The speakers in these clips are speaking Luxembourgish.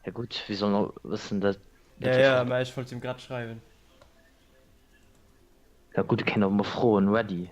Ja gut, wie soll noch wissen, dass... Ja, ja, aber ich wollte ihm gerade schreiben. Ja gut, ich kann auch mal frohen, ready.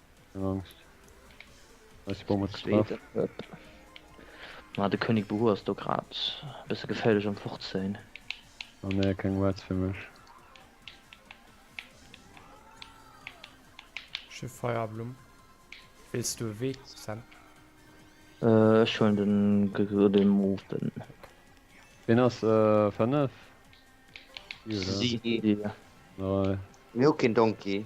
Keng Angst. Weiss bom huet getraff. Ma de König Buhu ass do grad bësse geféierlech am Fortzéien. Oh nee, keng Wards fir mech. Ech hu Feierblumm. Wéils du e Wee, Sam? Ech huelen den Gëgëdem oben. Ween ass 5? Si. Mir hu keen Donkey.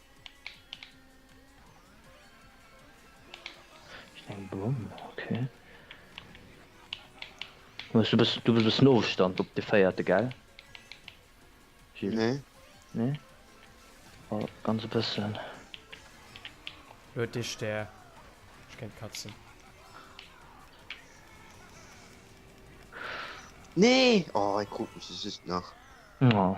Eng Bomm, okay. Du bist du bist bis Nostand op de feierte ge nee. nee? oh, ganz bisschen hue dich der ich kennt katzen nee oh, ich guck mich ist nach oh.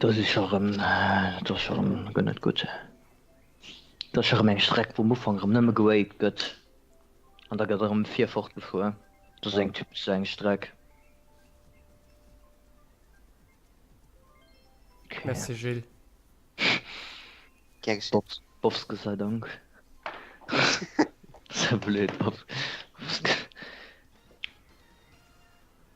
Do si scho rem, dat ass scho rem guer net gutt. Dat ass scho rem eng Streck, wou um Ufank rem nëmme gewaved gëtt an da gëtt erëm vir fort gefuer. Dat ass eng typesch eng Streck. Merci Gilles. Gär geschéen. Bops, Bofske sei Dank. Sei blöd, Bof, Bofske.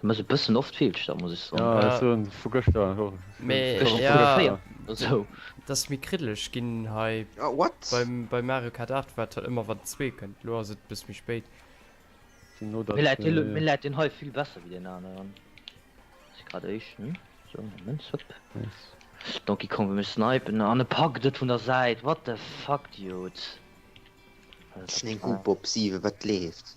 Du muss e bëssen oft feelsch da muss ech so vu gëschter dass mir kriddelech ginn hei wat bei Mario Kart 8 wat ëmmer wat zwee kënnt lo ass et bis méi spéit läit den hei vill besser wéi den aneren grad éischen Don gi komme mech snipen an e pak dët vun der Säit wat de fakt jod. Bob 7 wat leeft.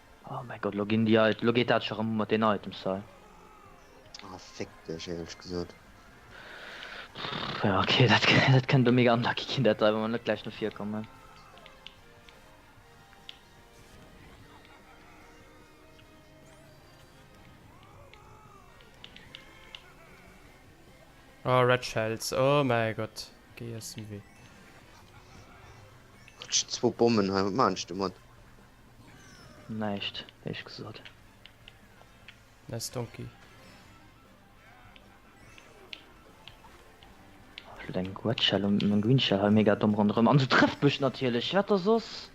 Oh mäi Gott, elo ginn déi Items, elo geet dat scho rëm mat den Items hei. Ah, fick dech, éierlech gesot. Ja, okay, dat, dat kënnt do mega unlucky ginn, dat hei, wa mer net gläich no vir kommen. Oh, Red Shells, oh mäi Gott, geet eis den Wee. Hat ech zwou Bommen hei, wat maachen ech domat? Näischt héich gesot. Nice Donkey. Ech wëll eng Red Shell um meng Green Shell hei mega domm ronderëm an se trëfft mech natierlech. Wat da soss?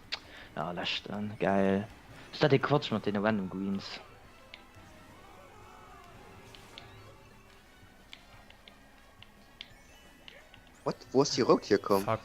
Ja, leschten. Gäil. Ass dat dee Quatsch mat deene random Greens? What? Wou ass déi rout hierkomm? Fuck.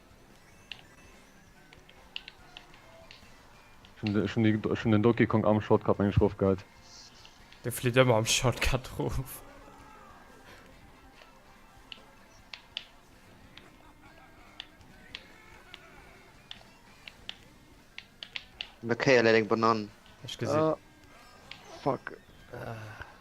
Ech hun den Donkey Kong am Shortcut mengen ech rof geheit. De flitt ëmmer am Shortcut rof. An der Kéier läit eng Banann. Ech gesin. Fuck.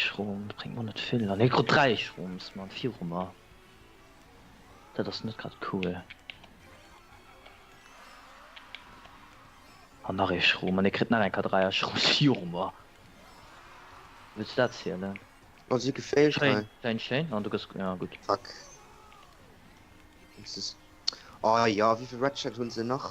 Schrom bringt man net vill an Ekro 3 Schroms man vir Rummer Dat ass net grad cool An nach e Schrom an e krit nach eng K3 Schrom Firmer Wës dat zielelen? Oh si geféilt Schein, schein, schein an du gëss ja gutt. Fuck. Oh ja, wéivill Red Shell hunn se nach?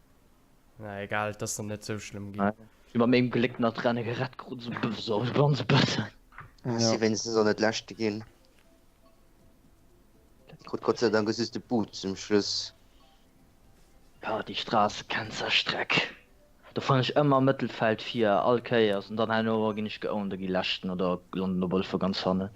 Na egal, dass dann net sou schlëmm gi. Iwer mengem Gléck nach drenne gerett krut sou bësse sou e ganz bësse. Ass si wéinstens och net leschte ginn. Krut Gott sei Dank e süsse Boot zum Schluss. Ah déi Strass kennt sa Streck. Do fannen ech ëmmer Mëttelfeld vir, all Kéiers. An dann herno ginn ech geowned a gi leschten oder landen op alle Fall ganz hannen.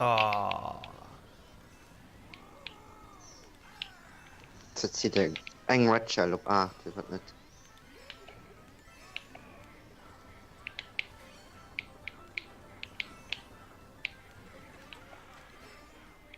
Ah. Ze zit eng eng Red Shell op 8 iwwer net.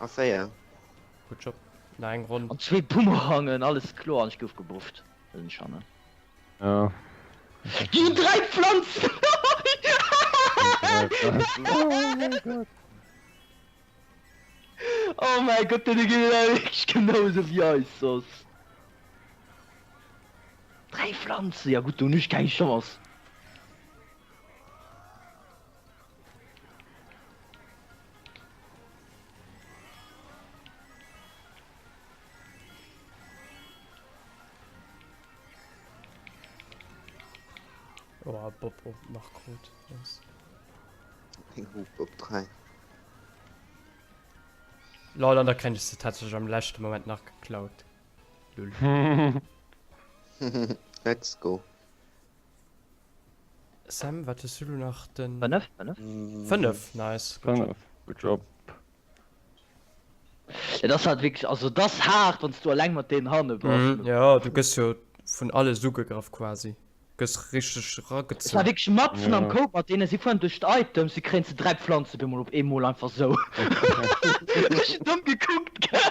A 4. Gutt Job. Nach eng Ronn. An zwee Bumerangen, alles kloer, an ech gouf gebufft. Dat sinn Cher, ne? Jo. Gi hunn 3 Pflanzen! Oh mäi Gott, deene geet et awer wierklech genau esou wéi eis soss. 3 Pflanzen, ja gutt, do hunn ech keng Chance. Oh, Bob op nach gut. Yes. Bob 3. Lol, an der kenne ich tatsächlich am letzten Moment nach geklaut. Let's go. Sam, wat hues du lo nach den. Fënnef, fënnef. 5, nice, good job. 5, good job. Et ass halt wierklech, also et ass haart wann s du alleng mat deenen hanne bass. Mhm, jo, du gëss jo vun alles ugegraff quasi, gëss richteg ragezunn. Et war wierklech matzen am Cope mat deenen, si fueren duerch d'Items, si kréien ze 3 Pflanzen op eemol, op eemol einfach sou. Ech hunn domm gekuckt, gell.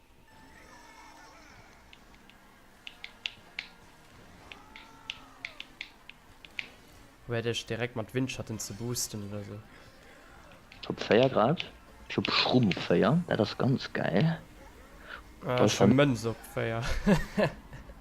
Probéier dech direkt mat Windschatten ze boosten oder sou. Ech hu 4 grad, ech hu Schrumm op 4, dat ass ganz gäil. Ech hu Mënz op 4.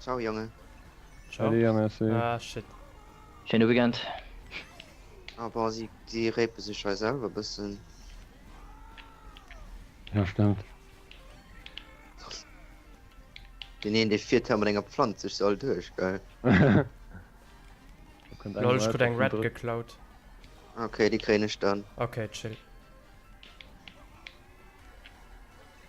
Ciao Jongen. Ciao. Salut merci. Ah shit. Schéine Weekend. Ah bon, si déi rapen sech hei selwer bëssen. Ja stemmt. Den een dee fiert hei mat enger Pflanz sech soll duerch geil. Lol ech krut eng red geklaut. Ok déi kréien ech dann. Ok chill.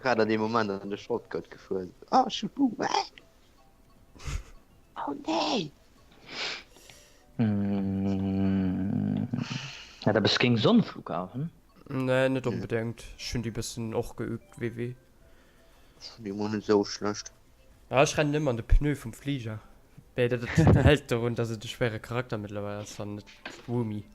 grad an dem Moment an de Shortcut gefuer oh, oh, nee. mm. ja, da bist ging Sonnenflug auf hm? nee, net unbedingt schön die bisschen och geübt wie wie so schlecht ja, ich renne immer an de pneu vom Flieger hält darum dass es de schwere Charakter mittlerweile ist, net Woomi.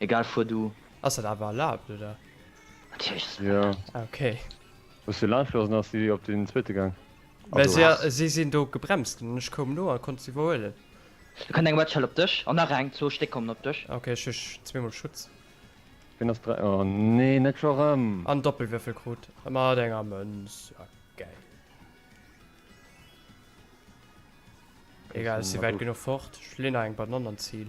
Egal, fuer du. Ass dat awer erlaabt, oder? Natierlech ass dat Ja. erlaabt. Ah, okay. Hues de lass gelooss an ass si op den zweete gaang? Mä Also. si, Ach. si sinn do gebremst ginn an ech koum no a konnt se iwwerhuelen. Do kënnt eng Wedgeshell op dech an nach eng, zwou Stéck kommen op dech. Ah, okay, ech hu zweemol Schutz. Wien ass dra-? Oh nee, net scho rëm! An Doppelwürfel krut mat enger Mënz. Ah, gäil. Egal, ech si wäit genuch fort. Ech leeën nach eng Banann an d'Zil.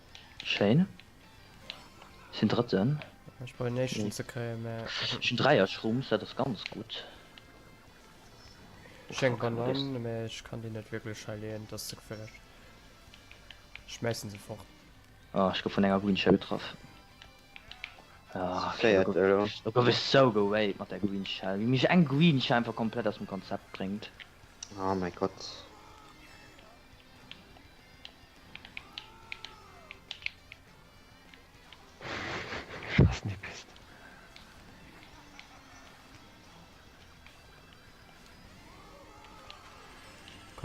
Schéin. Ech sinn Drëtten. Ech probéieren Éischten ze kréien, mä. Ech hunn Dräier Schtroumpfs, dat ass ganz gutt. Ech hu eng Banann, mä ech kann déi net wierklech hei leeën, et ass ze geféierlech. Ech schmäissen se fort. Oh, ech gouf vun enger Green-Shell getraff. Do gouf ech sou gewaid mat der Green-Shell, wéi mech eng Green-Shell einfach komplett aus dem Konzept bréngt. Oh mäi Gott.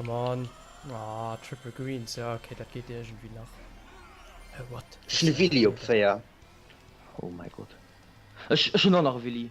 Come on. Ah, Triple Greens. Ja, okay, dat geht irgendwie nach. Hey, what? Ich bin Willi op 4. Oh mein Gott. Ich, ich bin auch nach Willi.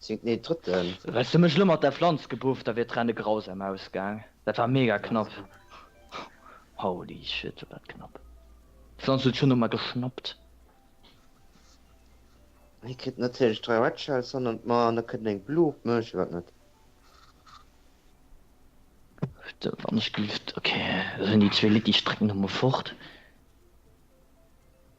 Zéngt, nee, drëtten. Häss du mech lo mat der Flanz gebufft, da wier d'Renne grausam ausgaang. Dat war mega knapp. Holy shit, war dat knapp. D'Flanz huet schonn no mer geschnappt. Hie kritt natierlech dräi Red Shells hannert mer an da kënnt eng Blue op mech. Iwwer net. Putain, wann ech gelift. Okay, da sinn déi zwee Litty Strecken elo mol fort.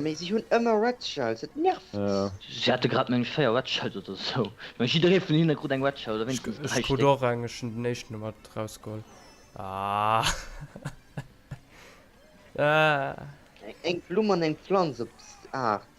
Mee si hunn ëmmer red shells, et nervt. Si hate grad mengen ech 4 red shells oder esou, mee jidderee vun hinne krut eng red shell oder wéinstens 3 Stéck. Ech hunn den éischten ëmmer erausgeholl. Eng Blumm an eng Pflanz op Aart.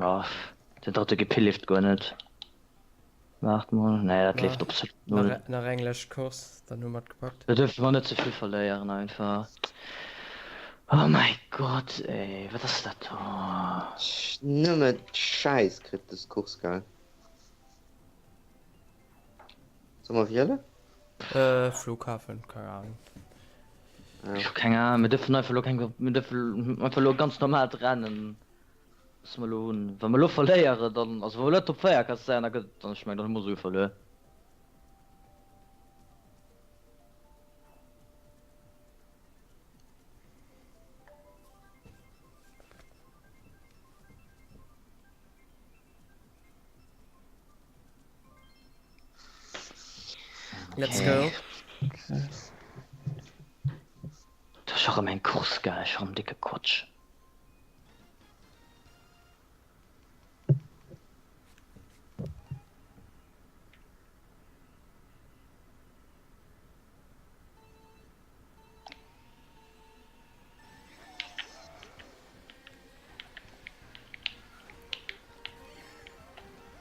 Ah, den dritte Gepill leeft guer net. Waart mol, nee dat leeft op null. Nach eng lech Kurs, dann hun mer gepackt. Do dürfen mer net zevill verléieren einfach. Oh mei Gott ey, wat ass dat do? Nëmme Scheiss kritt des Kurs gell. Soll mer wielen? Äh, Flughafen, keine Ahnung. Ja. Ich hab keine Ahnung, mir dürfen einfach lo kein, mir dürfen einfach lo ganz normal rennen. Was wir lo hun. Wenn wir lo verleieren, dann, also wenn wir lo Top 4 kannst sein, dann, dann ich mein, dann haben wir so verloren. Let's go. Du hast auch immer einen Kurs geil, ich habe dicke Quatsch.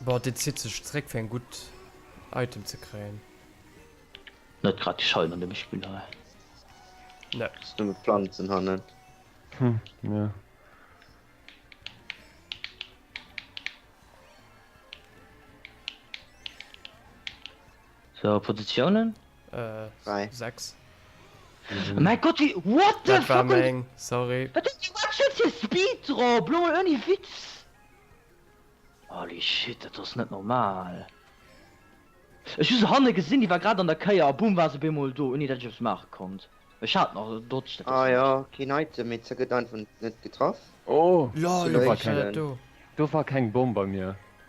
Boah, dit zitt sech zréck fir eng gutt Item ze kréien. Net grad déi Schein an dem Spill hei. Ne. Ass nëmme Planzen hannen. Hm, jo. So, Positiounen? Äh, 6. Mäi Gott, wéi. What the fuck? Dat war meng, sorry. Wat ass dat fir e Speed drop? Lo mol ouni Witz. Holy shit, dat ass net normal. Ech hu se hanne gesinn, déi war grad an der Kéier a boom war se op eemol do, ouni dat ech eppes maache konnt. Ech hat nach dodged, dat ass. Ah jo, keen Item, mee se gëtt einfach net getraff. Oh! Lol, wéi war keng. Do war keng Bomm bei mir.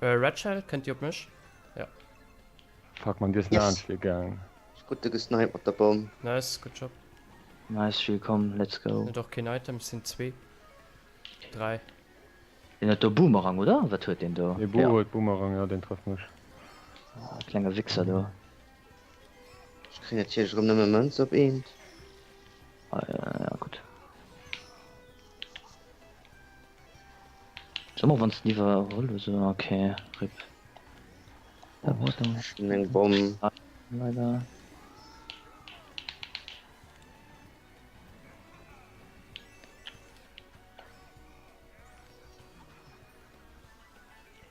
Redshell kënnt dir op mech? Jo. Fuck man, dir yes. fir gang. Gutt de gesnipe mat der Bomm. Nice, gutt Job. Nice Jules, komm let's go. Hunn et och keen Item, sinn zwee. Dräi. Deen huet do Boomerang oder wat huet deen do? Ee Bo huet Boomerang, jo deen trëfft mech. Ah, klenge Wichser do. Ech kréien natierlech erëm nëmme Mënz op eent. Ah ja, gutt. Soe mol, wann s de iwwerholl hues oder? Ok, rip. Oh, huet en. Ech hunn eng Bomm. Leider.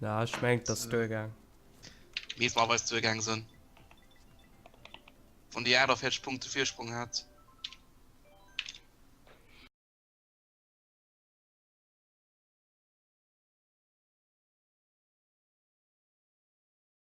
Na, ech mengt dass duer gaang. Leeft mer weis duer gaang sen. Wann déi 48 Punkte Virsprong hat.